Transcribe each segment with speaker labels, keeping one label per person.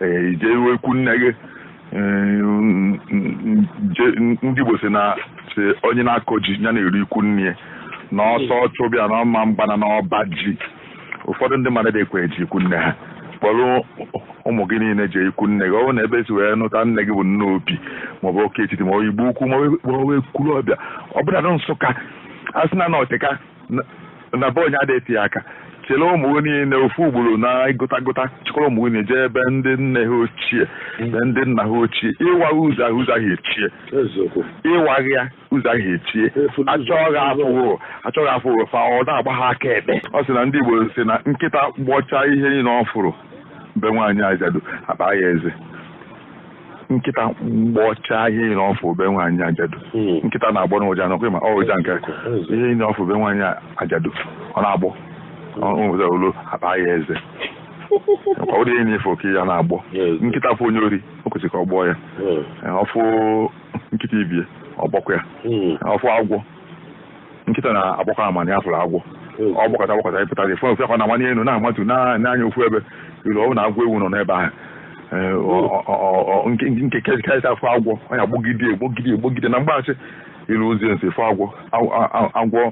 Speaker 1: i jewe ikwu nne gị ndị Igbo si na onye na-akọ ji ya na-eri ikwu nne ya na ọsọ chụbịa na ọ ma mgbana na ọba ji ụfọdụ ndị mmadụ adịkwa eje ikwu nne ha kpọrọ ụmụ gị niile jee ikwu nne gị ọ bụrụ na ebe e si wee nụta nne gị bụ Nnobi maọbụ Ọka Etiti maọbụ Igbo Ukwu maọbụ Ekwulọbịa ọbụnadị Nsụka a sị na na ọ teka na be onye ada ete aka chịrị ụmụ gị niile ofu ugboro na gụtagụta chịkọrọ ụmụ gị niile jee ebe ndị nne ha ochie na ndị nna ha ochie ịwa ụzọ ahụ ụzọ ahụ echie ịwaghị ya ụzọ ahụ echie achọghị afụghị achọghị afụghị fa ọ na-agba ha aka ekpe ọ sị na ndị Igbo si na nkịta gbọchaa ihe niile ọ fụrụ be nwaanyị ajadu akpa ya eze nkịta gbọchaa ihe niile ọ fụrụ be nwaanyị ajadu hmm. nkịta na-agbọnụ ụja ọ kwa ị ma ụja nke ihe niile ọ fụrụ be nwaanyị ajadu ọ na-agbọ ọnwụza olu akpa ya eze ọ bụrọ ihe niile ọ fụrụ ka ọ ya na-agbọ nkịta fụ onye ori o kwesịrị ka ọ gbọọ ya hmm. ọ fụ nkịta ibe ya ọ gbọkwa ya hmm. ọ fụ agwọ nkịta na-agbakwa ama na ya fụrụ agwọ ọ gbọkata gbọkata ị pụta dị fọn fekọ na-amanye elu na-amatu n'anya ofu ebe i luo ọ bụ na agwọ ewu nọ n'ebe ahụ Ee, ọ- ọ- ọ- ọ- nke nke karịsịa ọ fụ agwọ ọ ya gbogide egbogide egbogide na mgbaasị ilu ozi nsi fụ agwọ Agwọ- a- a- agwọ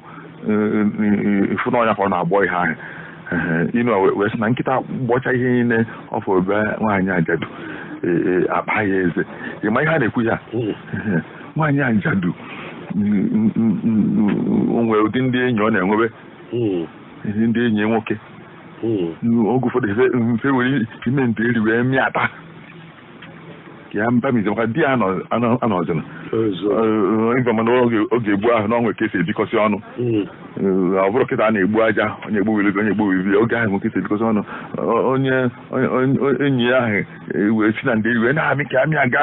Speaker 1: ị fụ na ọ ya ka ọ na-agbọ ihe ahụ Ehe, inu a wee- wee sị na nkịta gbọcha ihe niile ọ fụrụ be nwaanyị ajadu ee, ee, akpa ya eze ị ma ihe a na-ekwu ya Ehe. nwaanyị ajadu o nwere ụdị ndị enyi ọ na-enwebe hmm. ndị enyi nwoke hmm. oge ụfọdụ fa ewere ime ndeeri wee mịata ya mbamize maka di ya anọzina ị ma na oge gboo ahụ na o nwe ka e si ebikọsị ọnụ hmm. ọ bụrọ kịta a na-egbu aja onye egbu wiri onye egbu wiri oge ahụ o nwe ka e si ebikọsị ọnụ onye enyi ya ahụ e wee si na ndeeri wee na-amị ka amị aga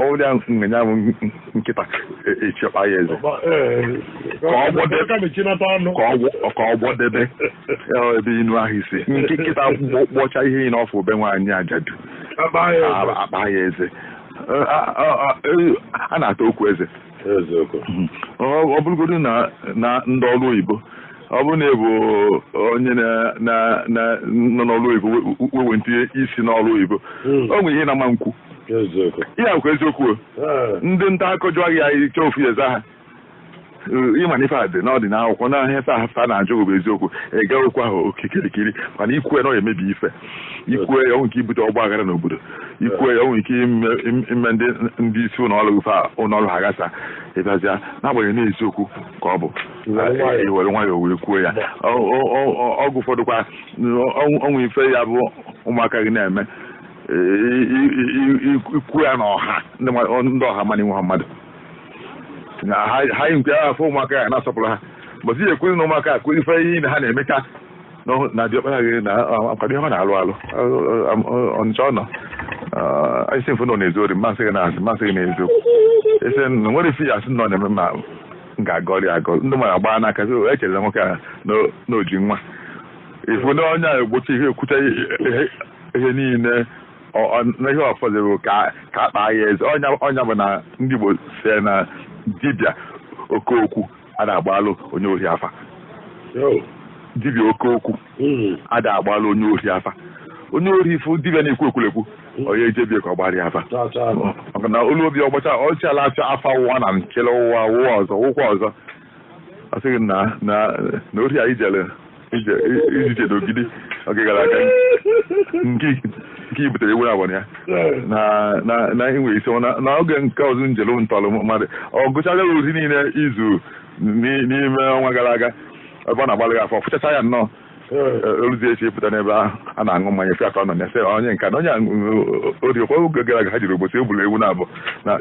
Speaker 1: ọ bụrụ ya nsị ya bụ nkịta echi akpa ya eze ka ọ gbọdebe ebe inu ahụ si nkịta gbọcha ihe niile ọ fụrụ be nwaanyị ajadu akpa ya eze a na-ata okwu eze ọ bụrụgodu na ndị ọrụ oyibo ọ bụrụ na ị bụ onye nọ n'ọrụ oyibo wee tinye isi n'ọrụ oyibo hmm. o nwere ihe ị na-ama nkwu ihe bụkwa eziokwu ah. ndị nta akụkọ jụọ gị ya ị chọọ ofu ị ya-aza ha ị ma na ife a dị na ọ dị n'akwụkwọ na ife fa na-ajụ bụ eziokwu ị gakwa ya okikirikiri mana i kwuo ya na ọ ya-emebi ife ikwue ya o nwee ike ibute ọgba aghara n'obodo ikwue ya o nwee ike ime ndị ndị isi ụlọ ọrụ fa ụlọ ọrụ ha gbasaa ịbịazịa n'agbanyeghị na eziokwu ka ọ bụ iwere nwayọọ wee kwuo ya oge ụfọdụ kwa o nwee ife ya bụ ụmụaka gị na-eme ikwu ya n'ọha ndị ọha mana inwe ha mmadụ ha yi nke afọ ụmụaka ya na-asọpụrụ ha mbọsị ya ekwuzi na ụmụaka akụ ife ihe na ha na-emecha na diọkpara gị na akwado ihe ọ na-alụ alụ ọnịcha ọ nọ isi mfe na ọ na-ezu ori mmasị gị na-asị mmasị gị na-ezu ese na nwere ife ya a sị na ọ na-eme ma m ga-agọrị agọ ndị mara gbaa n'aka so e chere nwoke a n'oji nwa ị fụ na onye a egbochi ihe ekwucha ihe niile na ihe ọfọdụrụ ka akpa ya eze ọ nya bụ na ndị Igbo si na dibịa oke okwu ada agbalụ onye ohi afa dibịa oke okwu hmm. ada agbalụ onye ohi afa onye ohi fụ dibịa na-ekwu ekwulekwu hmm. onye eje be ya ka ọ gbara ya afa maka na olu obi ọgbacha ọchịala acha afa ụwa na nkele ụwa ụwa ọzọ ụkwa ọzọ ọ sị gị na na ohi a i jere i ji je n'Ogidi oge gara aga nke nke i butere ewu abụọ ya na inwe isi na oge nke ọzọ njelu ntọrọ mmadụ ọ gụchaga ori niile i zu n'ime ọnwa gara aga ebe ọ na-agbalị afa fụchacha ya nnọọ o luzie echi pụta n'ebe ahụ a na-aṅụ mmanya fi atọ nọ ya sị onye nka na onye ori ọ kwa oge gara aga ha jere Obosi buru ewu naabọ na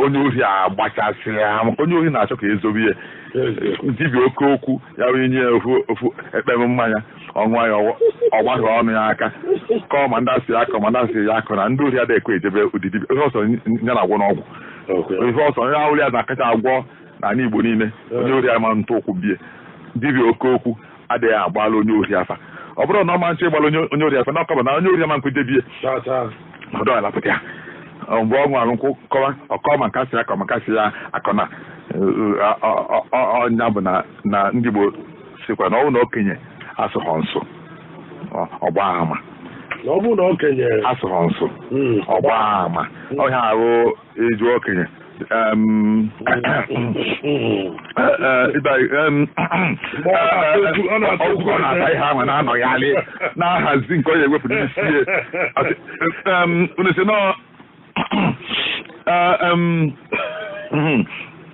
Speaker 1: onye ohi agbachasịrị ha maka onye ohi na-achọ ka e zobe ya dibịa oke okwu ya bụ i nye ofu ofu ekpem mmanya ọ ṅụọ ya ọ gbaa ọnụ ya aka kọọ ma ndị a sị ya kọọ ma ndị a sị ya akọna ndị ori adịghị ekwe eje be ụdị dibịa ihe ọsọ ya na-agwọ n'ọgwụ ihe ọsọ onye ahụrụ ya na-akacha agwọ n'ala Igbo niile onye ori ama ntụ ụkwụ be ya dibịa oke okwu adịghị agbala onye ori afa ọ bụrụ na ọ ma nche ịgbala onye onye ori afa na ọkọba na onye ori ama nkwudebe ya Chaa chaa. ọdọ ala pụta ya Ọ mgbe ọ ṅụrụ nkwụ kọwa ọ kọọ ma nke a sị ya kọọ ma nke a sị ya akọna ọ- ọ- ọ- ọ- ọ nya bụ na na ndị Igbo sikwa na ọ bụ na okenye asụghọ nsụ Ọ- ọ gbaa ama Na ọ bụrụ na okenye asụghọ nsụ Mm. ọ gbaa ama ọ ihe ahụ e ji okenye ọgwụgwọ na-ata ihe ahụ na-anọgharị na-ahazi nke ọ ya-ewepụ n'isi ya unu si nọ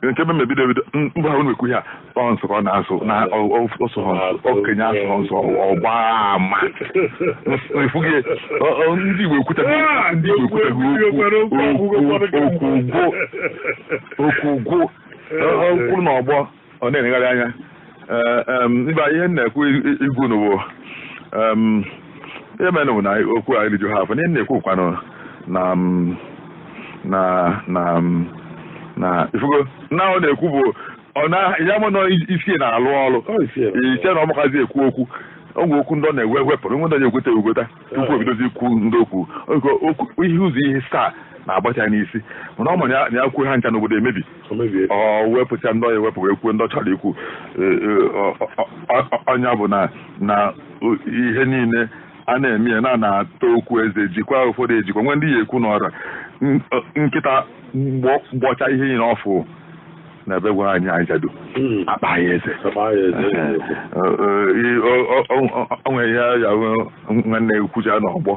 Speaker 1: nke ebe m bido ebido mgbe ahụ na-ekwu ihe a ọ nsụ ka ọ na-asụ na ọ bụ okenye asụghọ nsụ ọ gbaa ama efughị ndị Igbo ekwutaghị ndị Igbo ekwutaghị okwu okwu gwụ n'ọgbọ ọ na-enyegharị anya mba ihe m na-ekwu igwu n'ụwo ihe mere bụ na okwu a eriju ha afọ ihe m na-ekwu kwanụ na na na na ifugo na ọ na-ekwu bụ ya mụ na isi na-alụ ọrụ iche na ọ makazi ekwu okwu o nwee okwu ndị ọ na-ewe wepụrụ nwee ndị na-egweta egweta tupu o bidozie ikwu ndị okwu ihe ụzọ ihe asaa na-agbata n'isi mana ọ ma na ya kwuo ha ncha na obodo emebie o wepụcha ndị ọ ya-ewepụ wee kwuo ndị ọ chọrọ ikwu e, e, ọ nya bụ na na ihe niile a na-eme ya na na-ata okwu eze jikwa ụfọdụ ejikwa nwee ndị ọ ya-ekwu n'ọra nkịta gbọcha ihe niile ọ fụ na be nwaanyị ajadu hmm. akpa ya eze o nwere ihe ya nwanne ekwucha n'ọgbọ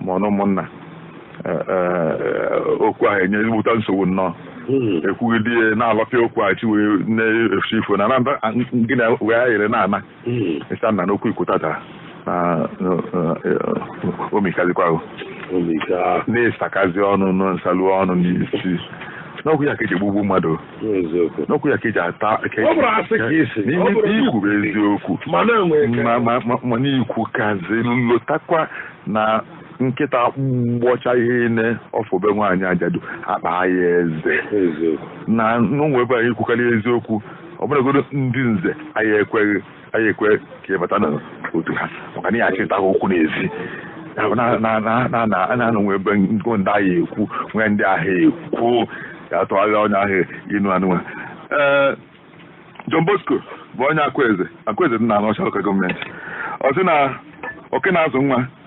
Speaker 1: ma ọ na ụmụnna e, e, okwu ahụ enye ezigbote nsogbu nnọọ hmm. ekwugide ya na-alọpịa okwu a chi wee na-efusi ifo na gị na wee ayere na-ana hmm. ịsa na n'okwu i kwutata na o mikazikwago na-esakazi ọnụ nsalu ọnụ n'isi n'okwu ya ka eji egbugbu mmadụ n'okwu ya ka eji ata ikwu eziokwu mana i kwukazi lotakwa na nkịta gbọcha ihe niile ọ fụ be nwaanyị ajadu akpa ya eze na onye be anyị kwukarị eziokwu ọ bụlụgodu ndị nze anyị ekweghị anyị ekwe ka ị bata n'otu ha maka na ị ya-achịta okwu n'ezi na-anọ nwe ebe ndị a ya-ekwu nwee ndị a ya-ekwu ga-atụgharị onye ahịa ịnụ anụnwa ee John Bosco bụ onye Akwaeze Akwaeze dị na Anaọcha lokal gọọmenti ọ sị na oke na-azụ nwa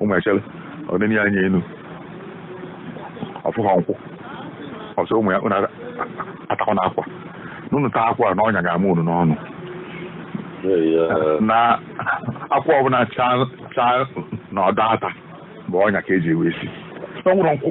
Speaker 1: ụmụ echere o nie anya enu ọ fụghọ nkwụ ọ sị ụmụ ya unu atakwana akwụ na unu taa akwụ na ọnya ga-ama unu n'ọnụ na akwụ ọbụla chaa n'ọdọ ata bụ ọnya ka eji wee sie o nwerọ nkwụ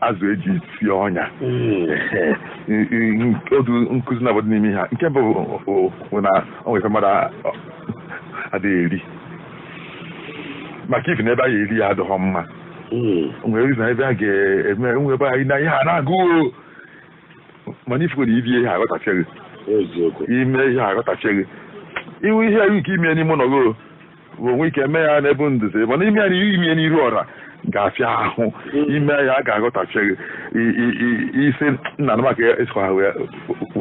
Speaker 1: azụ eji sie ọnya hmm. otu nkụzi na-adị n'ime ha nke bụ bụ na ọ nwere mmadụ adịghị eri maka ifi na ebe a ga-eri ya adịghọ mma hmm. nwere na ebe a ga-eme nwe ebe anyị na ihe a na-agụ mana ị fugoro ibi ihe aghọtachaghị ime ihe aghọtachaghị iwu ihe iwu nke ime n'ime ụlọ gị wee nwee ike mee ya n'ebe nzuzo mana ime ya n'iru ime ya n'iru ọra ga-afịa ahụ ime ya a ga-aghọtafie gị i- i- i- isi nna na maka ịsọ ha wee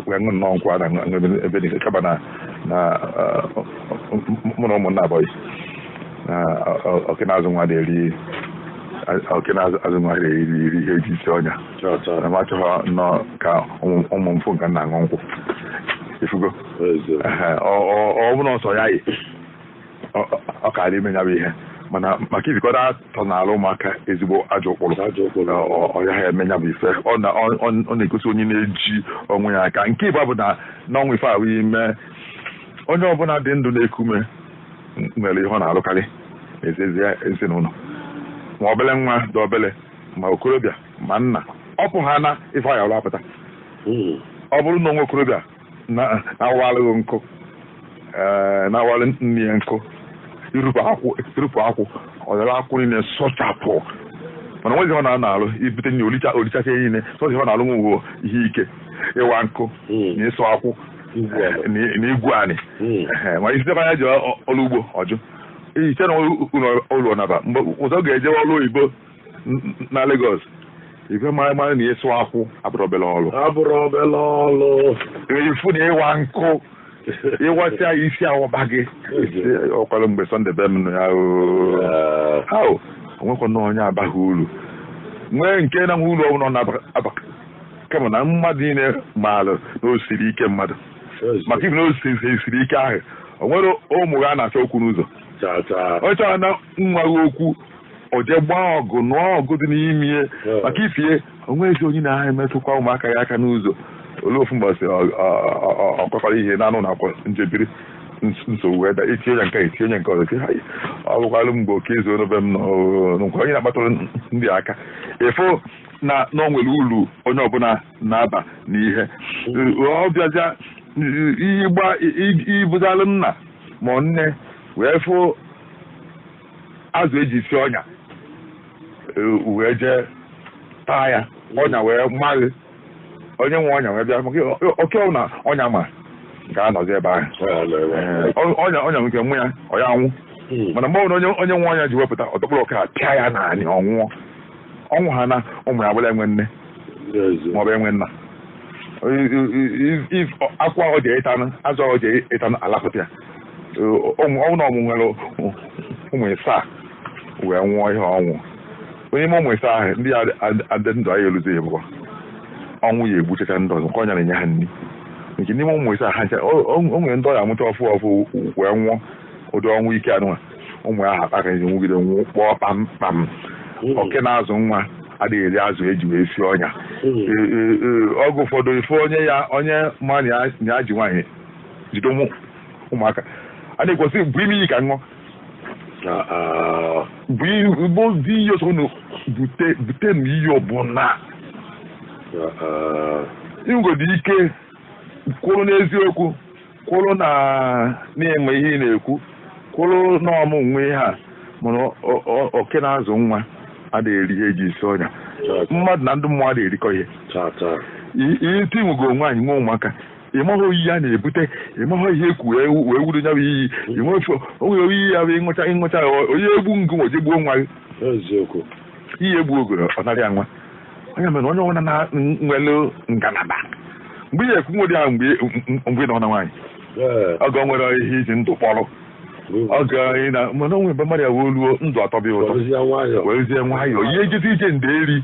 Speaker 1: wee ṅụ nnọọ nkwụ na ṅụ ebe ebe niile kaba na na ah, mụ na ụmụnna abụghị na oke na-azụ nwa na-eri oke na-azụ azụ nwa na-eri iri ihe eji esi ọnya na m achọghị nnọọ ka ụmụ ụmụ m fụ nke m na-aṅụ nkwụ ifugo Ehe, ọ ọ- ọ bụrụ na ọsọ ya yi ọ kaara ime ya bụ ihe mana maka izikọta atọ n'ala ụmụaka ezigbo ajọ ụkpụrụ ọ ya ha eme ya bụ ife ọ na-egosi onye na-eji onwe ya aka nke ịbụa bụ na n'ọnwa ife ahụ ime onye ọbụla dị ndụ na-eku ume nwere ihe ọ na-alụkarị n'ezi n'ezinụlọ ma obele nwa dị obele ma okorobịa ma nna ọ pụ ha na ife ahụ apụta hmm. ọ bụrụ na o nwe okorobịa na-awalụ gị nkụ eh, na-awalụ nne ya nkụ irupụ akwụ irupụ akwụ ọ dara akwụ niile sụchapụ mana nwezi ọ na-alụ ibute nni o licha o lichacha niile sọzi ọ na-alụ nwe ihe ike ịwa nkụ hmm. na ịsụ akwụ na igwu anị hmm. eh, ma ị sị ya jee ọrụ ugbo ọ jụ i chee na uru ọ na-aba mgbe ụzọ ga-eje ọrụ oyibo na Lagos ị wee mara mara na ịsụ akwụ abụrọ obere ọrụ abụrọ obere ọrụ ifu na ịwa nkụ ị wasịa ya isi awaba gị ọkwara mgbe sọnde be m ya ha o nwekwanụ onye abaghị uru nwee nke na-enwe uru ọbụla na-aba kama na mmadụ niile maara na o siri ike mmadụ maka ịbụ na o siri ike ahụ o nwere ụmụ ha na-achọ okwu n'ụzọ onye chọrọ na nwa gị okwu o jee gbaa ọgụ nụọ ọgụ dị n'ime ya maka ifie onwezi onye na-aha emetụkwa ụmụaka ya aka n'ụzọ o lue ofu mbọsị ọkwakwara ihe na anụ na akwa njebiri nsogbu wee daa etinye ya nke a etinye ya nke ọzọ ọ bụkwalụ mgbe oke izu n'obe m nkwa onye na-akpatụrụ ndị aka efo na na o nwere uru onye ọbụla na-aba n'ihe ọ bịazịa ịbụzalụ nna ma nne wee fụ azụ eji si ọnya wee jee taa ya ọnya wee ma gị onye nwe ọnya wee bịa maka oke na ọnya ma ga-anọzi ebe ahụ ọnya ọnya nke nwe ya ọ ya anwụ hmm. mana mgbe ọbụla onye nwe ọnya ji wee pụta ọ dọkpụrụ oke pịa ya n'anị ọ nwụọ ọ nwụ ha na ụmụ ya abụlụ enwe nne maọbụ enwe nna ọkwa ọ ja ịtanụ azụ ọ ja ịtanụ alapụta ya ọnwụ na ọmụ nwere ụmụ ịsaa wee nwụọ ihe ọnwụ onye ime ụmụ ịsaa ahụ ndị adị ndụ anyị eluzi ya bụkwa ọnwụ ya egbuchacha ndị ọzọ nke ọ ya na-enye ha nri nke n'ime ụmụ ịsaa ha o nwere ndị ọ ya amụcha ọfụ ọfụ wee nwụọ ụdị ọnwụ ike anụnwa ụmụ ya ha akpaka ezi nwụgide nwụọ kpọọ kpamkpam oke na-azụ nwa adịghị eri azụ e ji wee sie ọnya ọgụ ụfọdụ ife onye ya onye ma na ya ji nwaanyị jide ụmụ ụmụaka a na-ekwesị bụ ime iyi ka ṅụọ bụ igbo dị iyi ọsọ unu bute bute na iyi ọbụla i nwegodo ike kwụrụ n'eziokwu kwụrụ na ị ma ihe ị na-ekwu kwụrụ na ọ mụ nwe ihe a mana ọ- ọ- ọ- oke na-azụ nwa ada eri ihe e ji isi ọnya mmadụ na ndị mmụọ ada erikọ ihe taa taa I- iti nwego onwe anyị nwe ụmụaka ị maghị iyi a na-ebute ị maghị ihe ekwu wee wee wuru nya bụ iyi ịnwefe o nwere iyi ọ ya abụ ịṅụcha ịṅụcha ya, ọ- onye egbu ngụ nwe jegbuo nwa gị eziokwu iyi egbu ogori ọ nara ya nwa onye mere onye ọbụla na nwere ngalaba mgbe ihe ekwu nwere ya mgbe mgbe ị nọ na nwaanyị ee ọ ga nwere ihe iji ndụ kpọrọ ọ ga ị na mana o nwere mgbe mmadụ ya wee luo ndụ atọba ya ụtọ ọrụzie nwayọọ werezie nwayọọ ị ya ejezi ije ndeeri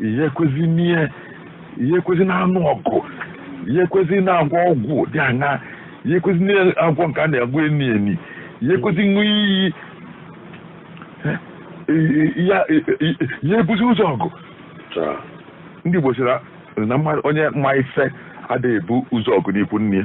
Speaker 1: ị ya ekwezi n'ihe ị ya ekwezi na-anụ ọgụ ị ya ekwezi na-agwọ ọgwụ dị anya ị ya ekwezi na-agwọ nke a na-agwọ eni eni ị ya ekwezi ịṅụ iyi Eh, eh, ya- eh, eh, ị ya ebuzi ụzọ ọgụ Taa. ndị Igbo sịra na mmadụ- onye ma ife adịghị ebu ụzọ ọgụ n'ikwu nne ya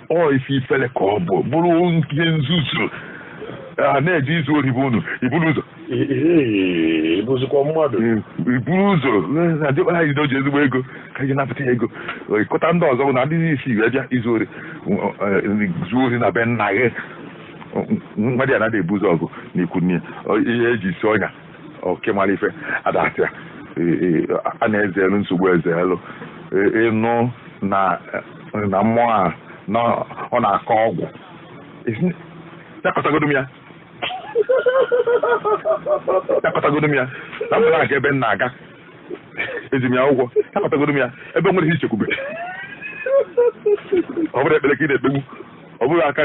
Speaker 1: ọ ife ifele ka ọ bụ bụrụ nke nzuzu a na-eje izu ori bụ unu iburu ụzọ Ee,
Speaker 2: bụzikwa mmadụ iburu ụzọ
Speaker 1: na dịkwa anyị na o ji ezigbo ego ka anyị napụta ya ego ịkọta ndị ọzọ bụ ndị isi wee bịa izu ori zuo ori na be nna gị nwadiana adị ebu ụzọ ọgụ n'ikwu nne ya. Ọ- ihe e ji isi ọnya oke mara ife ada ata ya a na-ezelu nsogbu ezelu ịnụ na na mmụọ a na ọ na-akọ ọgwụ ya kọtagodo m ya ya kọtagodo m ya na mụ na-aga ebe m na-aga eji m ya ụgwọ ya kọtagodo m ya ebe nwere ihe ichekwube ọ bụrụ ekpere ka ị na-ekpegbu ọ bụrụ aka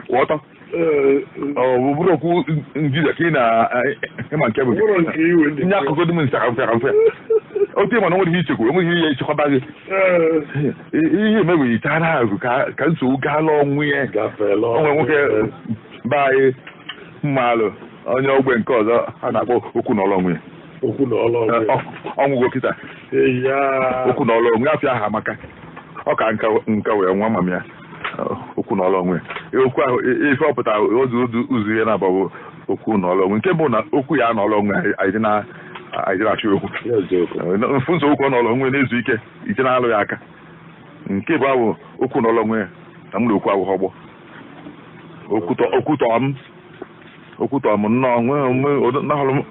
Speaker 1: kwụ ọtọ Ee, ọ bụ bụrụ okwu njide ka ị na ịma nke bụ gị. ụlọ nke iwe dị. nye akụkọ dị m nsa ka mfe ka mfe otu ịma na o nwere ihe ichekwa enweghị ihe ya echekwaba gị Ee, I- ihe emebeghị taa na azụ ka ka nsogbu gaala onwe ya gafeela o nwere nwoke be anyị m maalụ onye ogbe nke ọzọ a na-akpọ okwu na ọlụ onwe ya okwu na ọlụ onwe ya. ọ nwụgo kịta Ee, ya. okwu na ọlụ onwe ya afa ahụ amaka ọ ka nka nka wee nwa mama ya okwu na ọlụ onwe okwu ahụ ife ọpụta ozi ụzọ ihe na-abụ okwu na ọlụ onwe nke bụ na okwu ya na ọlụ onwe anyị na-achụ okwu mfu nso okwu na ọlụ onwe na-ezu ike ije na-alụ ya aka nke bụ ahụ okwu na ọlụ onwe na m na okwu ahụ ọgbọ okwutọ m okwutọ m nnọọ nwee onwe odo- nahụrụ m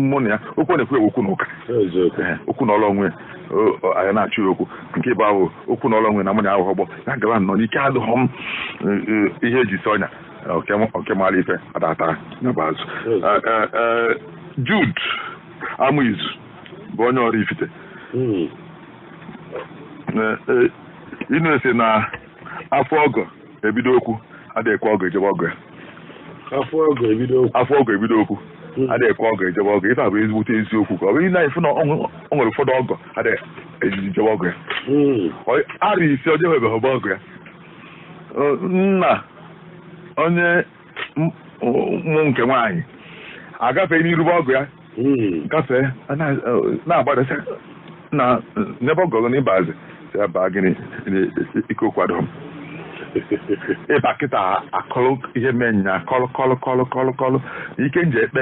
Speaker 1: mụ na ya okwu ọ na-ekwu ya bụ okwu na ụka eziokwu Ee, okwu na ọrụ onwe ya, o- o- anyị na-achụ ya okwu nke bụ ahụ okwu na ọlụ onwe ya na mụ na ya ahụ ọgbọ ya gara nnọọ n'ike adịghọ m e, e, ihe eji si ọnya oke m- oke mara ife adatara ya bụ azụ Ee, ee, ee, Jude Amaizu bụ onye Ọraifite Mm. Ee, ee, ị na-ese na afụ ọgọ ebido okwu adịghị ekwe ọgọ eje be ọgọ ya afụ
Speaker 2: ọgọ ebido okwu afụ ọgọ ebido okwu hmm. adịghị ekwe ọgọ eje be ọgọ ife a bụ ezigbote eziokwu ka ọ bụ ihe na ife na o nwere ụfọdụ ọgọ adịghị eje be ọgọ ya hmm. arị isi ọjọọ ebeghị ọgọ ya nna onye mụ nke nwaanyị agafee n'iru be ọgọ ya hmm. gafee na-agbadasị na n'ebe ọgọ na ịbazi ya baa gịnị ike kwado ịba kịta akọlụ ihe mee nya kọlụ ike nje ekpe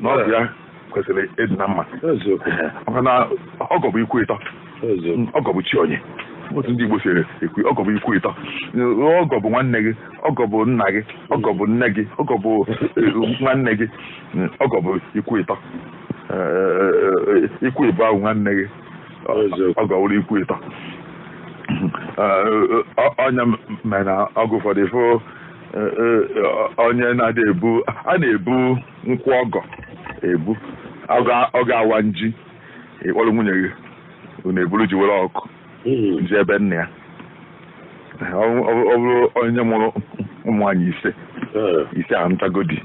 Speaker 2: na ọ bụ ya kwesịrị ịdị na mma maka na ọgọ bụ ikwu ịtọ ọgọ bụ chi onye otu ndị Igbo si ekwu ọgọ bụ ikwu ịtọ ọgọ bụ nwanne gị ọgọ bụ nna gị ọgọ bụ nne gị ọgọ bụ eh, nwanne gị ọgọ bụ ikwu ịtọ eh, eh, ikwu ịbụa wụ nwanne gị ọgọ wụrụ ikwu ịtọ ọ nya mere na ọgọ ụfọdụ ị fụ onye na-adị ebu a na-ebu nkwụ ọgọ ebu oge awam ji ị kpọrọ nwunye gị unu eburu ji were ọkụkọ jee be nna ya ọ bụrụ onye mụrụ ụmụ nwaanyị ise ise a ntagodi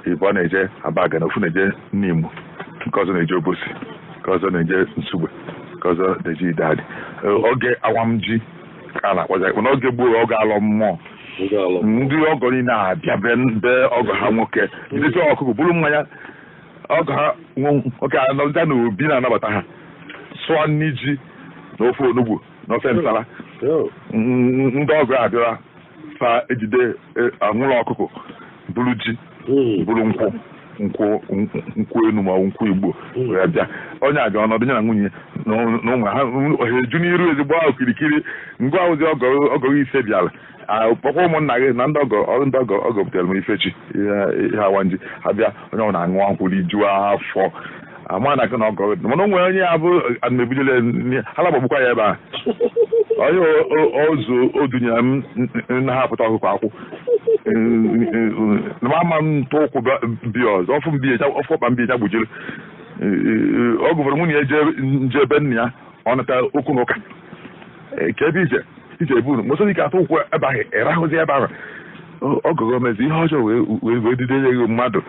Speaker 2: ibe ọ na-eje Abagana ofu na-eje Nimo nke ọzọ na-eje Obosi nke ọzọ na-eje Nsugbe nke ọzọ na-eje idadị oge awam ji ka a na-akpọ ya ekpe n'oge gboo oge alọ mmụọ ndị ọgọ niile abịa be be ọgọ ha nwoke jidesi ọkụkọ buru mmanya ọgọ ha nwoke anọdụ na obi na-anabata ha sụọ nri ji na ofe onugbu na ofe nsala ndị ọgọ abịara fa ejide e, anwụrụ ọkụkọ buru ji hmm. buru nkwụ
Speaker 1: nkwụ nkwụ enu ma nkwụ igbo hmm. wee bịa onye aga ọnọdụ ya na nwunye na ụmụ ha eju n'iru ezi gbaa kirikiri ngwa ahụzi ọgọ ise bịara kpọkọọ ụmụnna gị na ndị ọgọ butere m ifechi ihe awam ji ha bịa onye ọwụna aṅụọ nkwụ rijuo afọ ama na akụ na ọgọ mana o nwere onye ya bụ anamebidole ha na-agbagbukwa ya ebe a onye ozu odunye m na ha pụta ọkụkọ akwụ na ma ama m ntụ ụkwụ bịa ọzọ ọfụ mbi ọfụ ọkpa mbi ya gbujiri ọ gụfere nwunye ya nje ebe nna ya ọ nata okwu na ụka ka ebe ije ije ebu unu mosoro ike atụ ụkwụ ebe ahụ ịrahụzi ebe ahụ ọgọ ahụ mezi ihe ọjọọ wee dide ya mmadụ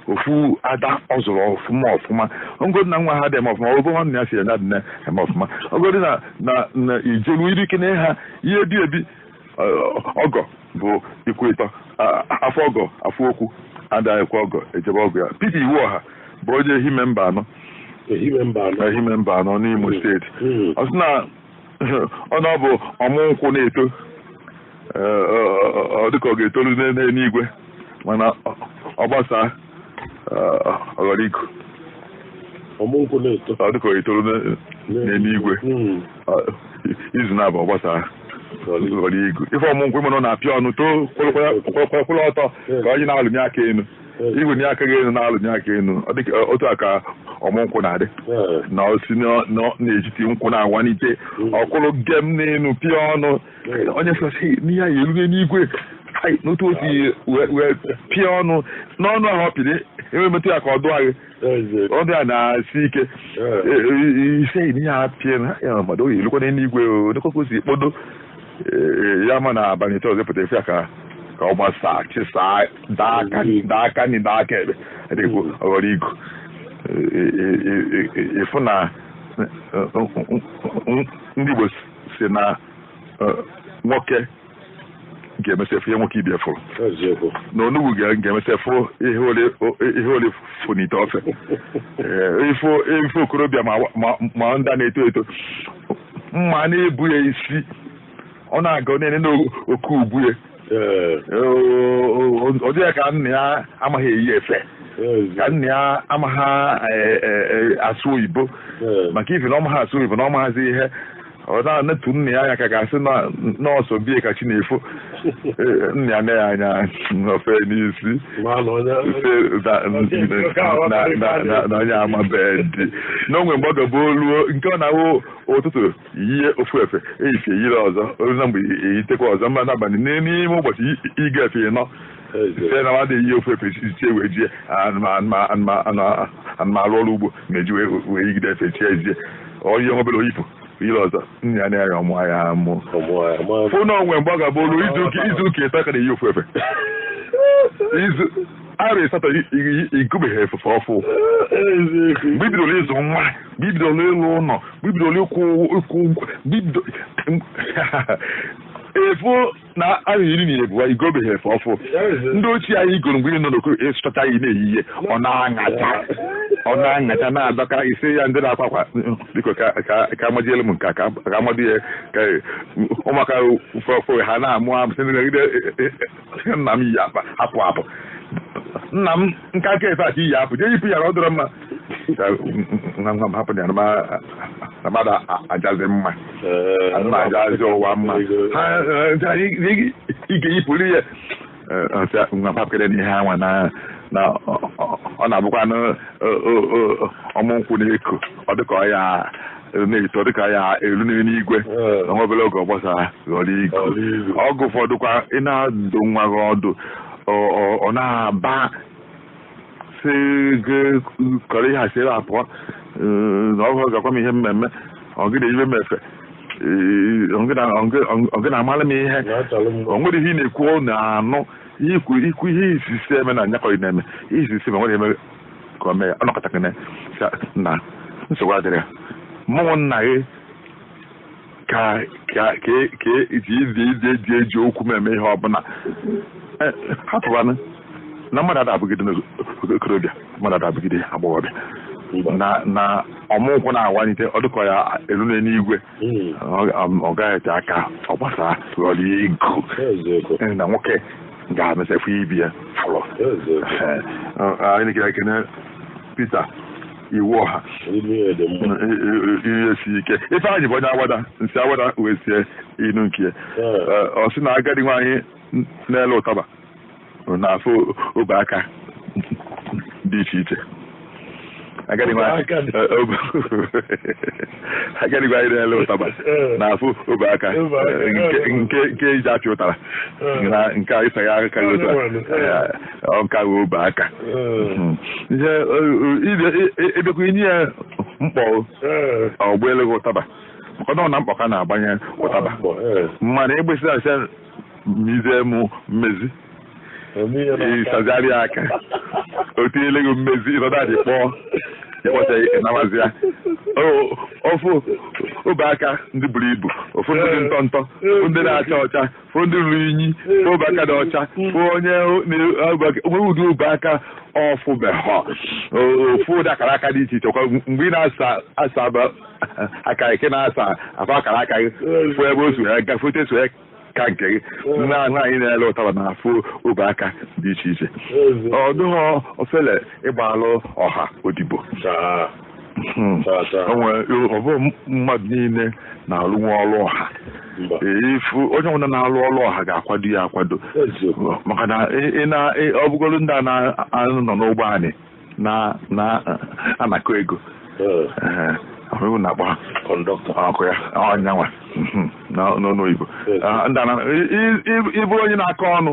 Speaker 1: ofu ada ọ zụrụ ọfụma ọfụma ngodi na nwa ha dị eme ọfụma ọgọ nwanne ya sị ya dị na eme ọfụma ogodi na na na ijelu iri ike na ha ihe bi ebi ọgọ bụ ikwu ịtọ afọ ọgọ afọ okwu ada ekwe ọgọ eje be ọgọ ya Peter Iwuọha bụ onye Ehime Mbano Ehime Mbano n'Imo steeti ọ sị na ọ na ọ bụ ọmụ nkwụ na-eto ọ dịka ọ ga-etoru n'eluigwe mana ọ gbasaa ọ ghọrọ igu ọmụnkwụ na-eto ọ dịka ọ ga-etoru n'eluigwe hmm. izu naabọ ọ gbasaa ghọrọ igu ị fụ ọmụnkwụ ị ma na ọ na-apịa ọnụ too kwụrụ ọtọ ka onye na-alụnye aka elu igwe nye aka gị elu na-alụnye aka elu ọ dịka otu a ka ọmụ nkwụ na-adị na o si n'etiti nkwụ na-awanite ọ kwụrụ gem n'elu pịa ọnụ onye sọsi n'ihe a ya-erue n'igwe n'otu o si wee pịa ọnụ n'ọnụ ahụ ọ pịrị i wee metụ ya aka ọ dụọ gị ọ bịa na-esi ike ị sị e, e, ihe a pịa n'anya mmadụ ọ ya-elukwa n'igwe nekwa ka o si kpodo e, ya ma na abalị ịtọ ọzọ pụta ị fụ ya ka ka ọ gbasaa chịsaa daa aka nri daa aka ekpe dịkwu ọ ghọrọ igu ị fụ na ndị Igbo sị na nwoke ga-emesị fụ ihe nwoke ibe ya fụ na onugbu ga-emesị fụ ihe ọla fụ n'ite ofe ị fụ okorobịa ma ndị na-eto eto mma na-ebu ya isi ọ na-aga na-ene n'oke ubu ya ọ dị ya ka nna ya amaghị eyi efe ka nna ya amaghị asụ oyibo maka ife na ọ maghị asụ oyibo na ọ maghịzi ihe ọ na-enetụ nna ya anya ka a ga-asị na ọ sọ be ya ka chi na-efo Ee, nee nna ya anya ofe n'isi Ma na onye sị na- na- na- na- na onye amabeghị dị n'onwe mgbe ọ gaba o luo nke ọ na-awụ ụtụtụ yie ofu efe efifie yiri ọzọ o lue na mgbede yitekwa ọzọ ma n'abalị n'ime ụbọchị i- i ga efe ịnọ site na mmadụ eyi ofu efe si tie wee jie anụma arụ ọrụ ugbo na-eji wee yigide efe tie ezie onye nwe obere o yipụ yiri ọzọ nna ya na-arịa ọmụ ya mụ fụ na o nwe mgbe ọ ga-abụ o lu izu ụka ịtọ ka na-eyi ofu efe izu arụ asatọ i gobeghị efe ọfụ bibidoro ịzụ nwa bibidoro ịlụ ụlọ bibidoro ịkwụ ụgwọ efu na arụ iri na ebuwa i gobeghị efe ọfụ ndị ochie anyị goro mgbe ị nọ n'okoro ị sụchachaa ya na-eyi ya ọ na-aṅacha ọ na-aṅacha na-adọka ị sị ya ndị na-akwa akwa biko ka amachielu m nke ka amadụ ya ka ụmụaka fọfọ ha na-amụ amụ sị nagide nna m yi akpa hapụ hapụ nna m nkịka efe a ka i yi apụ jee yipụ ya na ọ dọrọ mma hapụ ya mmadụ ajazi mma mma ajazi ụwa mma ị ga-eyipụrụ ya nwa hapụkene ihe anwa na na ọ na-abụkwanụ ọmụ nkwụ na-eko ọ dịka ọ ya na-eto dịka ya elu n'eluigwe na nwa obere oge ọ gbasaa ghọrọ igu oge ụfọdụkwa ị na-adụ nwa gị ọdụ ọ na-aba sị gị kọrọ ihe a si ebe a pụọ na ọ gị ga-agwa m ihe m eme ọ gị na-eyibe m efe ọ gị na-amara m ihe o nwere ihe ị na-ekwu ọ na-anụ i kwuo i kwuo ihe i si sị e mee na nyakọrị na-eme ihe i si sị e mee nwere eme ka o mee ya ọ nọkatakene na nsogbu adịrị ya mụ wụ nna gị ka ka ka ka iji izi izi eji eji okwu m eme ihe ọbụla Eh, hapụbanụ na mmadụ ada abụgide n'okorobịa mmadụ ada abụgide agbọghọbịa na na ọmụnkwụ na-awanyite ọ dịka ọ ya elu n'eluigwe Mm. Ọ- ọ- ọ gaghị ete aka ọ gbasaa ghọrọ igu Eziokwu. Eh, na nwoke ga-emesị fụ ibe ya fụrụ
Speaker 2: Eziokwu. Eh, eh, anyị na-ekele ekene Peter Iwuọha ihe si ike Ifeanyị bụ onye Awada si Awada wee zie inu nke ọ sị na agadi nwaanyị na-ele ụtaba na-afụ obe aka dị iche iche agadi nwaanyị na-ele ụtaba na-afụ obe aka nke e ji apị ụtara na nke ịsa ya aka ọ ka wee obe aka hmm. ihe ị bịakwa i nye ya mkpọ ọ gbaalu gị ụtaba maka ọ na mkpọ ka a na-agbanye ụtaba mana egbesi asị mize mụ mmezi ị sazigharị aka o tinyele gị mmezi ị nọdụ anị kpọọ ị kpọcha ike nawazi ya ọ fụ obe aka ndị buru ibu ọ fụ ndị dị ntọ ntọ ndị na-acha ọcha fụ ndị ruru inyi fụ obe aka dị ọcha fụ onye nwe ụdị obe aka ọ fụbeghọ ọ fụ ụdị akara aka dị iche iche kwa mgbe ị na-asa asa aba- aka ị ka na-asa ọ fụ akara aka gị fụ ebe o so ya gafete so ya ka nke gị nwaanyị na-ele ụtaba na-afụ obe aka dị iche iche ọ dịghọ ofele ịgbalụ ọha odibo hmm. ọ bụ mmadụ niile na-alụnwu ọrụ ọha ị fụ onye ọbụla na-alụ ọrụ ọha ga-akwado ya akwado maka na ọ bụgoro ndị a na-anọ n'ụgbọ anị na-anakọ ego ọrụ na-akpọ ọkụ ya ọnyanwa hmm, hmm, n'onu oyibo ah, ị bụrụ onye na-akọ ọnụ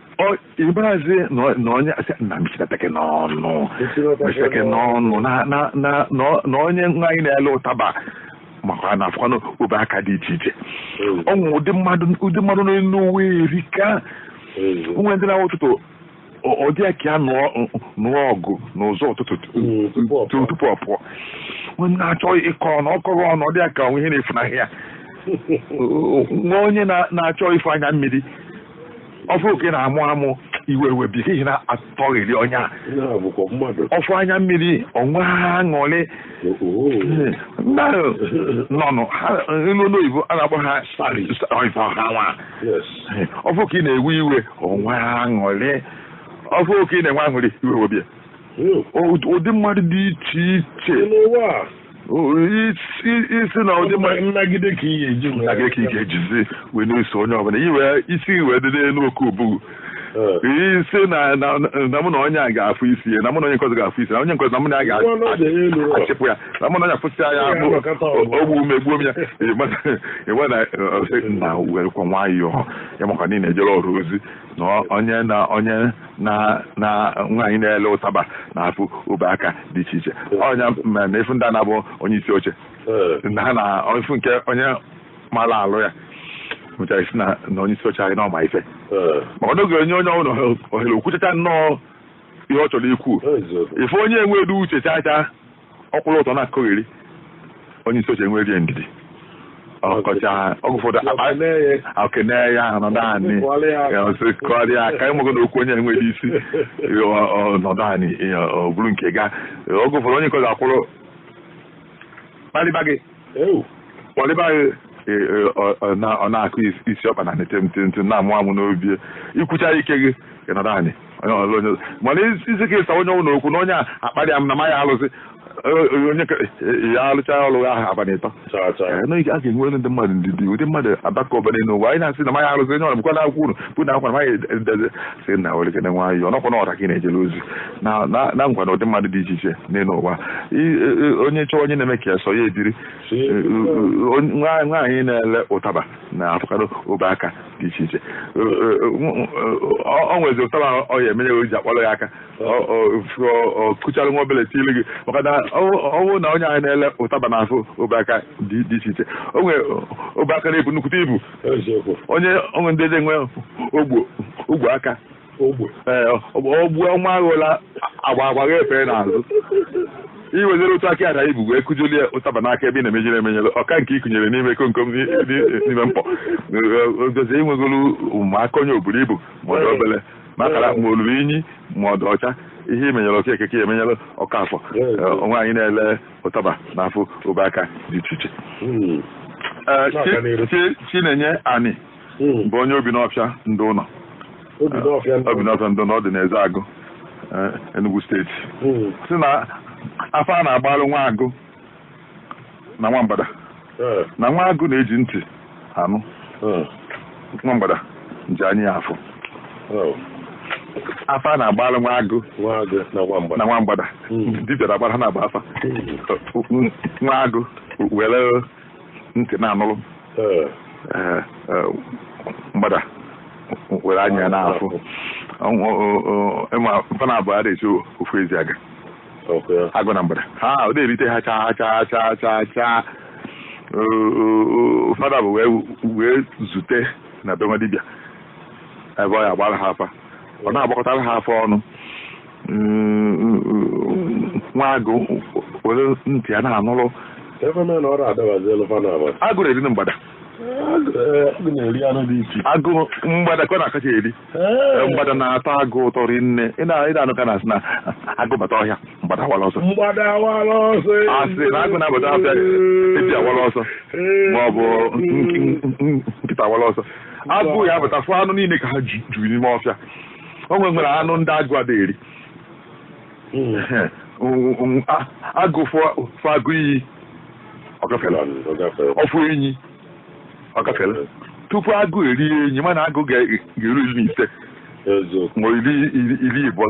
Speaker 2: ị marazi na onye na mechitekene ọnụ mechitekene ọnụ na onye nwaanyị na-ele ụtaba makwa na-afụkwanụ obe aka dị iche iche o nwe ụdị mmadụ n'elu ụwa erika o nwe ndị na-awụ ụtụtụ ọ dị ya ka ya nụọ ọgụ n'ụzọ ụtụtụ tupu ọ pụọ na-achọ ịkọ ọnụ ọ kọghọ ọnụ ọ dị ya ka o nwe ihe na-efunahị ya o nwe onye na-achọ ịfụ anya mmiri ọ fụ ka ị na-amụ amụ iwe ewebe ya ihe na-atọghịrị onye a ọ fụ anya mmiri o nwee aṅụrị mmadụ nọnụ ilu n'oyibo a na-akpọ ha ha nwa ọ fụ ka ị na-ewe iwe o nwee aṅụrị ọ fụ ka ị na-enwe aṅụrị iwe ewebe ya ụdị mmadụ dị iche iche ị sị na ụdị nnagide ka ihe e ji nnagide ka ị ga-ejizi wee na-eso onye ọbụla iwe isi wee dị n'elu oke ubugu ị sị na mụ na onye a ga-afụsị anya mụ na onye nke ọzọ ga-afụsị anya onye nke ọzọ na mụ na ya ga-achịpụ ya na mụ na onye afụsị anya o gbuo m egbuo m ya ịgwa na ọ sị na werekwa nwayọọ ya makwa niile ejere ọrụ ozi na onye na onye na na nwaanyị na-ele ụtaba na-afụ obe aka dị iche iche ọ nya ma na ị fụ ndị a na-abụ onye isi oche Ee. na ha na-afụ nke onye mara alụ ya mechara a sị na na onye isi oche anyị na ọ ma ife Ee. maka na ọ ga-enye onye ọbụla ohere o kwuchachaa nnọọ ihe ọ chọrọ ikwu Eziokwu. ị fụ onye enweghị uche chaa chaa ọ kwụrụ ọtọ na-akọgheri onye isi oche enwere ndidi ọ kọchaa oge ụfọdụ e kene ya nọdụ anị kụọrọ ya aka ịmụgo na okwu onye enweghị isi nọdụ anị ọ bụrụ nke ga oge ụfọdụ onye nke ọzọ akwụrụ kparịba gị kpalịba gị e, e, ọ na-akụ isi ọkpa na nete ntị ntị na-amụ amụ n'obi ikwucha ike gị ịnọdụ anị mana isi ka ịsa onye ọbụna okwu na onye a akparịa m na ma ya alụsị onye ya alụcha ọlụ ahụ abalị ịtọ a ga-enwe ndị mmadụ ndidi ụdị mmadụ abaka ụbara n'ụwa anyị na-asị na maya arụzi onye ọrụ bụkwa na akwụkwọ unu bụ na akwa na maya sị na werekene nwayọ ọ nakwa na ọra ka ị na-ejere ozi na na- nakwa na ụdị mmadụ dị iche iche n'elu ụwa I- e- e- onye chọọ onye na-eme ka ya sọ ya ebiri E- e- e- nwa- nwaanyị na-ele ụtaba na-afụkarị ọbụ aka dị iche iche E- e- e- nw- ọ ọ nwezi ụtaba ahụ ọ ya emenye o ji akpọrọ ya aka Ọ- ọ- ọ- ọ kuchara nwa obere tiilu gị maka na ọ- ọ bụ na nwaanyị na-ele ụtaba na-afụ ọbụ aka dị dị iche iche o nwere ọbụ aka na-ebu nnukwute ibu onye onwe ndị dị nwe ogbo ogbo aka ogbo ee ogbu ọnwa aghụla agba agba gha efere n'azụ iwezere otu aka ada ibu wee kujuli ya ụtaba n'aka ebe ị na-emenyere emenyere Okeke ikunyere n'ime komkom n'ime mkpọ ogozi iwegolu ma aka onye o buru ibu ma ọ dị obere ma akara ma o lulu inyi ma ọ dị ọcha ihe imenyere Okeke emenyere Okafọ nwaanyị na-ele ụtaba na-afụ ọbụ aka dị iche iche hmm. eh, Chinenye Ani hmm. bụ onye Obinọfịa Ndịụnọ Obinọfịa Ndịụnọ dị n'Ezeagụ eh, Enugu steeti hmm. sị na afa a na-agbalụ nwa agụ na nwa mgbada eh. na nwa agụ na-eji ntị anụ hmm. nwa mgbada ji anya ya afụ oh. afa a na-agbara nwa agụ na nwa mgbada hmm. dibịa na-agbara ha na-agba afa hmm. nwa agụ were ntị na-anụrụ eh. Eh, eh, mgbada were anya na-afụ fa naabọ ada esi ofu ezi aga agụ na mgbada ha ọ na-erite ha chaa chaa fa naabọ wee zute na be nwa dibịa ebe ọ ya agbara ha afa ọ na-agbakọtara ha afa ọnụ nwa agụ were ntị ya na-anụrụ agụ na-erinụ mgbada agụ mgbada ka ọ na-akacha eri mgbada na-atọ agụ ụtọ rinne ị na-anụ ka a na-asị na agụ bata ọhịa mgbada awala ọsọ asị na agụ na-abata ọhịa ezi awala ọsọ ma ọ bụ nkịta awala ọsọ agụ ya abata fụ anụ niile ka ha juru n'ime ọfịa o nwe nwere anụ ndị agụ ada eri agụ fụ agụ iyi ọ gafela ọ fụ enyi ọ gafela tupu agụ erie enyi ma na agụ ga-eru iri na ise ma iri ịbụọ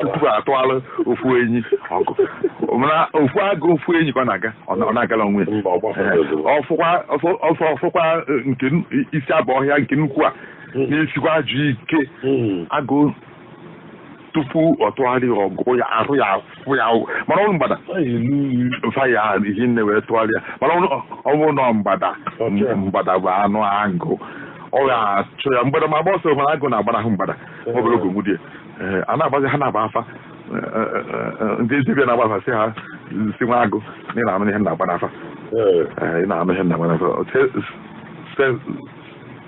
Speaker 2: tupu atụala ofu enyi ọgụ mana ofu agụ fụ enyi ka ọ na-aga ọ na-agala onwe ọ fụkwa nke isi abụ ọhịa nke nnukwu a na-esikwa ajọ ike agụ tupu ọ tụgharịa ọgụ ya ara ya ahụ mana ọ bụrụ mgbada fa ya ihe nne wee tụgharịa mana ọ bụrụ na mgbada mgbada bụ anụ agụ ọ ga-achụ ya mgbada ma agba ọsọ mana agụ na-agbanahụ mgbada obere oge nwudie a na-agbazi ha na-agba afa ndị dibịa na-agba afa sị ha sị nwa agụ na ị na-anụ ihe na-agba n'afa ị na-anụ ihe na-agba n'afa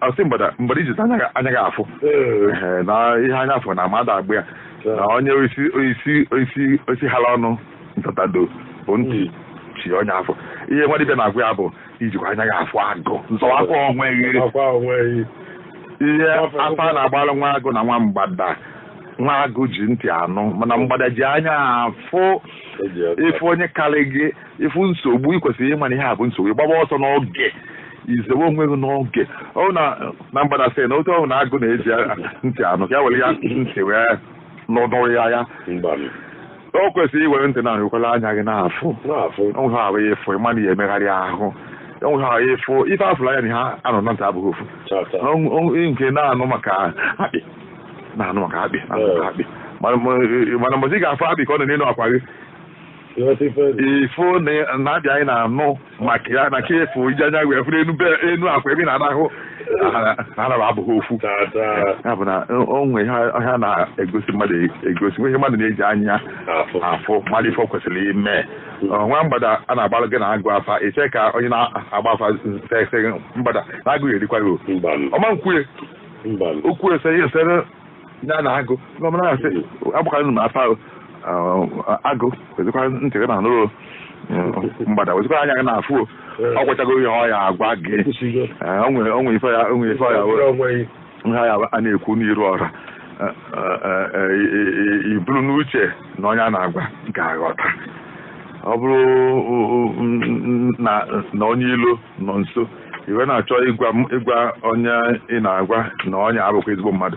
Speaker 2: a sị mgbada i ji anya gị afụ na ihe anya afọ na mmadụ agba ya na onye isi hala ọnụ ntatado bụ ntị chie onye afọ ihe nwa dibịa na-agwa ya bụ i jikwa anya gị afụ agụ zọwakwa onwe gị ihe afa na-agbalụ nwa agụ na nwa mgbada nwa agụ ji ntị anụ mana mgbada ji anya afụ ị fụ onye karị gị ị fụ nsogbu ị kwesịrị ịma na ihe a bụ nsogbu ịgbaba ọsọ n'oge izewe onwe gị n'oge ọ na mgbada sị na otu ọ hụrụ na agụ na-eji ntị anụ ka ya were ya ntị wee nọdụrụ ya o kwesịrị iwere ntị na ahụkwala anya gị na-afụ o nwe ihe ị ya-afụ ị ma na ị ya-emegharị ahụ o nwe ihe ị ya-afụ ife a fụlụ anya na ihe a nụ na ntị abụghị ofu nke na-anụ maka akpị na-anụ maka akpị na-anụ maka akpị mana mgbe ị ga-afụ akpị ka ọ nọ n'elu akwa gị ị fụ na-abịa anyị na-anụ maka ya na ka efu iji anya wee fụrụ enu enu akwa ebe ị na-arahụ ụra ha abụghị ofu ya bụ na o nwe ihe a na-egosi mmadụ egosi nwe ihe mmadụ na-eji anya afụ malụ ife o kwesịrị ime nwa mgbada a na-agbalụ gị na agụ afa i che ka onye na-agba afa sị mgbada na agụ ya-erikwa gị ọ ma na o kwue okwu esere ndị a na-agụ ndị ọbụla na-asị agbakara nụ m afa ahụ agụ wezikwa ntị gị na-anụrụ mgbada wezikwa anya gị na-afụ o. ọ gwachago ihe ọ ya agwa gị ekwusigo Ee, o nwere o nwere ife ya o nwere ife ọ ya were onwe gị ihe a ya- a na-ekwu n'iru ọra Ee, ee, ee, i- i- i buru n'uche na onye a na-agwa ga-aghọta ọ bụrụ o- o- m- m- na na onye ilo nọ nso i wee na-achọ ịgwa onye ị na-agwa na onye a abụkwa ezigbo mmadụ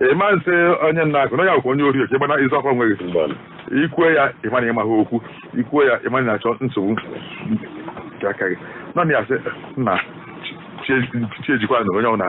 Speaker 2: ị ma-asị onye nna akụ na ya bụkwa onye ori oke ịmana ịzụ ọkwa nweghị i kwue ya ị ma na ị maghị okwu i kwue ya ị ma na ị na-achọ nsogbu nke aka gị nọ na ya sị nna chi ejikwa na onye ọ na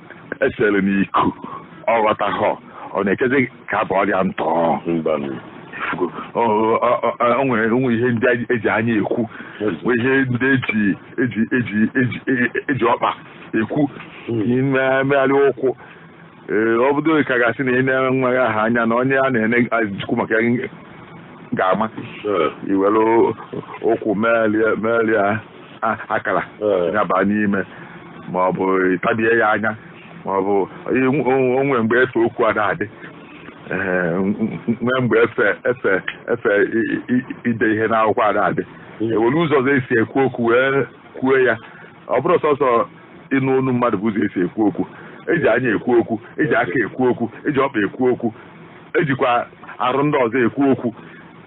Speaker 2: esere m iku ọ ghọtaghọ ọ na-echezi ka abụ ọrịa ntọ o nwe ihe ndị eji anya ekwu nwee ihe ndị eji ọkpa ekwu mmegharị ụkwụ ee ọ bụdo ka a ga-asị na ị na-ene nwa gị aha anya na onye a na-ene ajụkwu maka ya ga-ama iwere ụkwụ megharịa akara nya baa n'ime ma ọ bụ ịtabie ya anya ma ọ bụ o nwe mgbe efe okwu ada adị nwee mgbe efe ide ihe n'akwụkwọ ada adị ewere ụzọ ọzọ esi ekwu okwu wee kwue ya ọ bụrọ sọsọ ịnụ onu mmadụ bụ ụzọ esi ekwu okwu eji anya ekwu okwu eji aka ekwu okwu eji ọkpa ekwu okwu ejikwa arụ ndị ọzọ ekwu okwu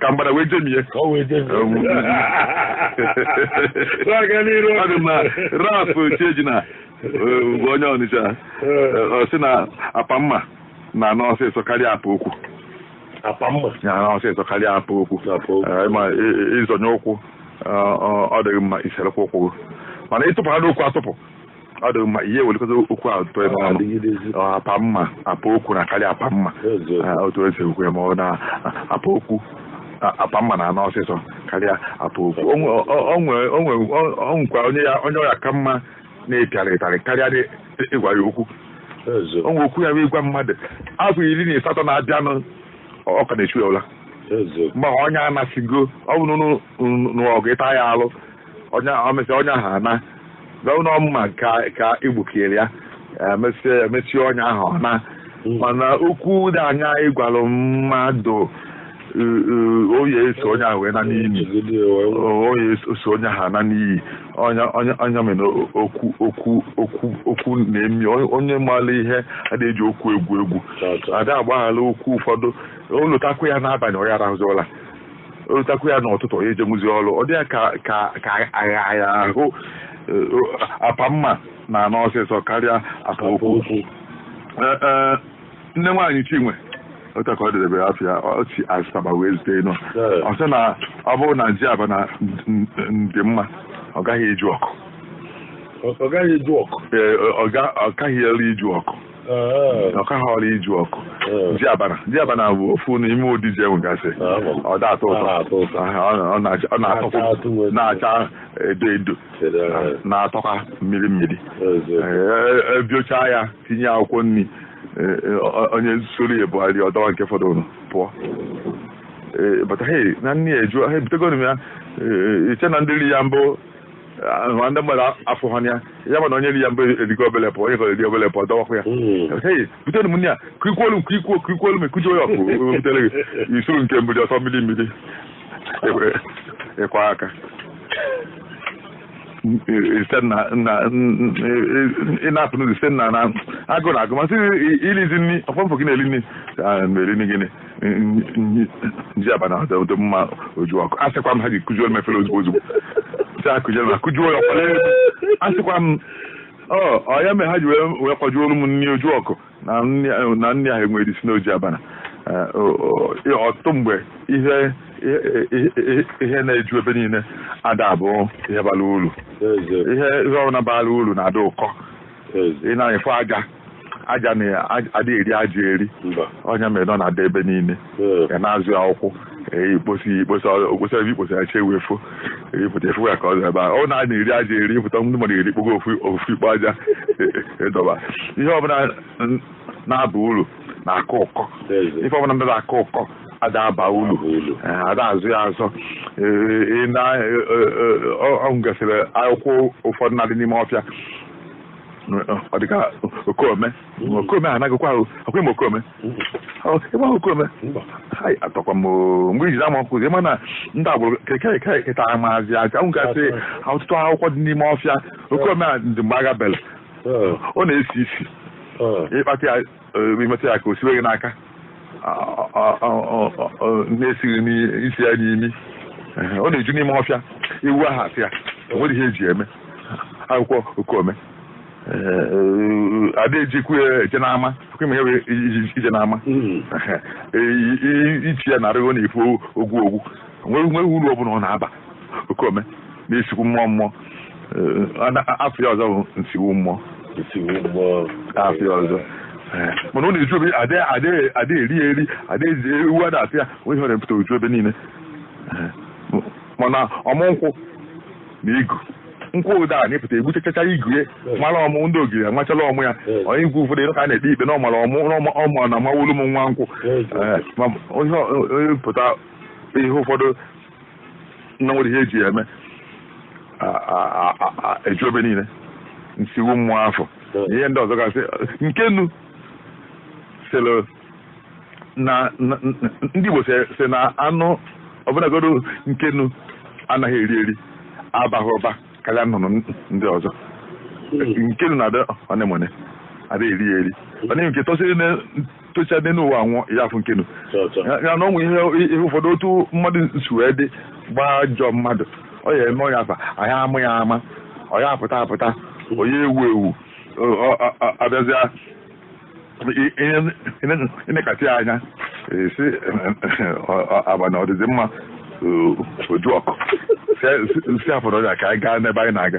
Speaker 2: ka mgbada wee jemie ka ọ wee jee Um, na-aga n'iru ọ dị mma Ralph Chiejina bụ onye ọnịcha eh, ọ sị na apa mma na-ana ọsịsọ karịa apa okwu apa mma na-ana ọsịsọ karịa apa okwu Apa okwu. Eh, ma ị- ị- ịzọnye ụkwụ eh, ọ ọ dịghị mma iserekwa ụkwụ gị mana ịtụpụhanụ okwu atụpụ ọ dị mma ihe welekọta okwu ahụ tụọ ebe ọnụ apa mma apa okwu na karịa apa mma otu esi ekwu ya ma ọ na apa okwu apa mma na-ana ọsịsọ karịa apa okwu o nwekwa onye ọ ya-aka mma na a pịara ịtarị karịa ịgwa ya okwu o nwe okwu ya bụ ịgwa mmadụ afọ iri na ịsatọ na-abịanụ ọ ka na-echu ya ụla mgbe onye anasịgo ọ bụrụ n'ọgụ ịta ya alụ o mesịa ọnya ahụ ana ọ bụ mma ka igbukiere ya emesịa ọnya ahụ ana mana okwu dị anya ịgwalụ mmadụ eh, eh, o ye-eso onye ahụ wee naa n'ini o ye-eso onye ahụ naa n'ini onye mere okwu na-emi onye- onye maara ihe ada eji okwu egwu egwu ada agbaghara okwu ụfọdụ o lotakwa ya n'abalị ọ ya-arahụzi ụla o lotakwu ya n'ụtụtụ ọ ya-ejenwuzi ọrụ ọ dị ya ka agha ahụ eh, apa mma na-ana ọsịsọ karịa apa okwu Eh, eh, nne nwaanyị Chinwe otu ka ọ dịrebe ya afa ya o si Asaba wee zite inu Ee. ọ sị na ọ bụrụ na ji abana n- n- dị mma ọ gaghị eju ọkụ
Speaker 3: ọ gaghị eju ọkụ Ee, ọ ga- ọ kaghị elu iju ọkụ ọ kaghị eru iju ọkụ ji abana ji abana bụ ofu n'ime ụdị ji enwegasị ọ da atọ ụtọ ọ na-atọkwa na-acha edo edo na-atọkwa mmiri mmiri ebiocha ya tinye akwụkwọ nri onye soro ya bụgharị ọ dọwa nke fọdụrụ pụọ bata he na nne ya eju ha ebutego ya iche na ndị ri ya mbụ ahụ ndị mmadụ afụhụ ya ya mana onye ri ya mbụ erigo obele pụọ onye ka eri obele pụọ dọwakwa ya hei butere m nne ya ka i kuolu m ka i kuo ku i kuolu m ekujuo ya ọkụ o butere gị isuru nke mgbidi ọ sọ mmiri mmiri Ekwe- ịkwa aka site na na ị na-afụ n'ụzọ site na na agụụ na-agụ m a sị irizi nri ọfọmfọ gị na-eri nri Ah, na-eri nri gịnị ji abana ada adị mma oju ọkụ a sịkwa m ha ji kụjuo m efere ozugbo ozugbo si akụjuo ma kụjuo ya ọkpara elu a sịkwa m ọ ọ ya mere ha ji wee wee kwajuolu m nri oju ọkụ na nri ahụ- na nri ahụ enwerọ isi na ọ ji abana Eh, o- o- ya ọtụtụ mgbe ihe ihe- ihe- ihe na-eju ebe niile ada abụ ihe bara uru ihe ihe ọbụla bara uru na-adị ụkọ ị na-afụ aja aja ada eri aja eri ọ ya mere ọ na-adị ebe niile a na-azọ ya ụkwụ
Speaker 2: ikposi ikposi okposi ebe ikposi ya chewe efu ịpụta efu ya ka ọ dị ebe a ọ na na-eri aja eri ịpụta ndị mmadụ erikpọgo ofu ikpo aja ị dọba ihe ọbụla na-aba uru na-akọ ụkọ ife ọbụla na-ada akọ ụkọ ada aba ulu ada azọ ya azọ o nwegasịrị akwụkwọ ụfọdụ na-adị n'ime ọfịa ọ dịka okome okome anaghịkwa ahụ akwa m okome ịgba okome atọkwa m mgbe ijiri ama ọkụzi ị ma na ndị agbụrụ keta amazị aja m gasị ọtụtụ akwụkwọ dị n'ime ọfịa okome a dị mgbe agha bele ọ na-esi isi ị kpata ya i metụ ya aka o siwe gị n'aka na-esi gị isi ya n'imi ọ na-eju n'ime ọfịa ewu ada ata ya enweghị ihe eji eme akwụkwọ okome ada ejikwu eje n'ama kụma ewe ije n'ama ichi ya n'arụ gị ọ na-efu ogwu ogwu nwerọ nwerọ uru ọ bụla ọ na-aba okome na nsiwu mmụọ mmụọ afọ ya ọzọ bụ nsiwu mmụọ afọ ya ọzọ mana ọ na-eju ebe adịghị eri ya eri adịghị ewu ada ata ya o nwerọ ihe ọ na-epụta o ju ebe niile mana ọmụ nkwụ na igu nkwụ ụda a na-epụta egbuchachacha igu ya mara ọmụ ndị ogiri amachala ọmụ ya onye igu ụfọdụ ịnụ ka a na-ekpe ikpe na ọ mara ọmụ na ọmụ na mawolu m nwa nkwụ onye pụta ihe ụfọdụ na-enwerọ ihe eji ya eme eju ebe niile nsiwu mmụọ afọ na ihe ndị ọzọ gasị nkenu sịrị na ndị Igbo sị na anụ ọbụla godo nkenu anaghị eri eri abaghị ụba karịa nnụnụ ndị ọzọ hmm. nkenu na-adị one n'one adịghị eri eri ọ na-enye nke tọsịrị tocha dị n'ụwa nwụọ ya afụ nkenu ya na o nwere ihe ụfọdụ otu mmadụ si wee dị gbajọ mmadụ ọ ya eme onye afa anyị ama ya ama ọ ya apụta apụta onye ewu ewu a bịazịa nekata anya esi agba na ọdịdị mma oju ọkụ si afọrọ ya ka anyị gaa n'ebe anyị na-aga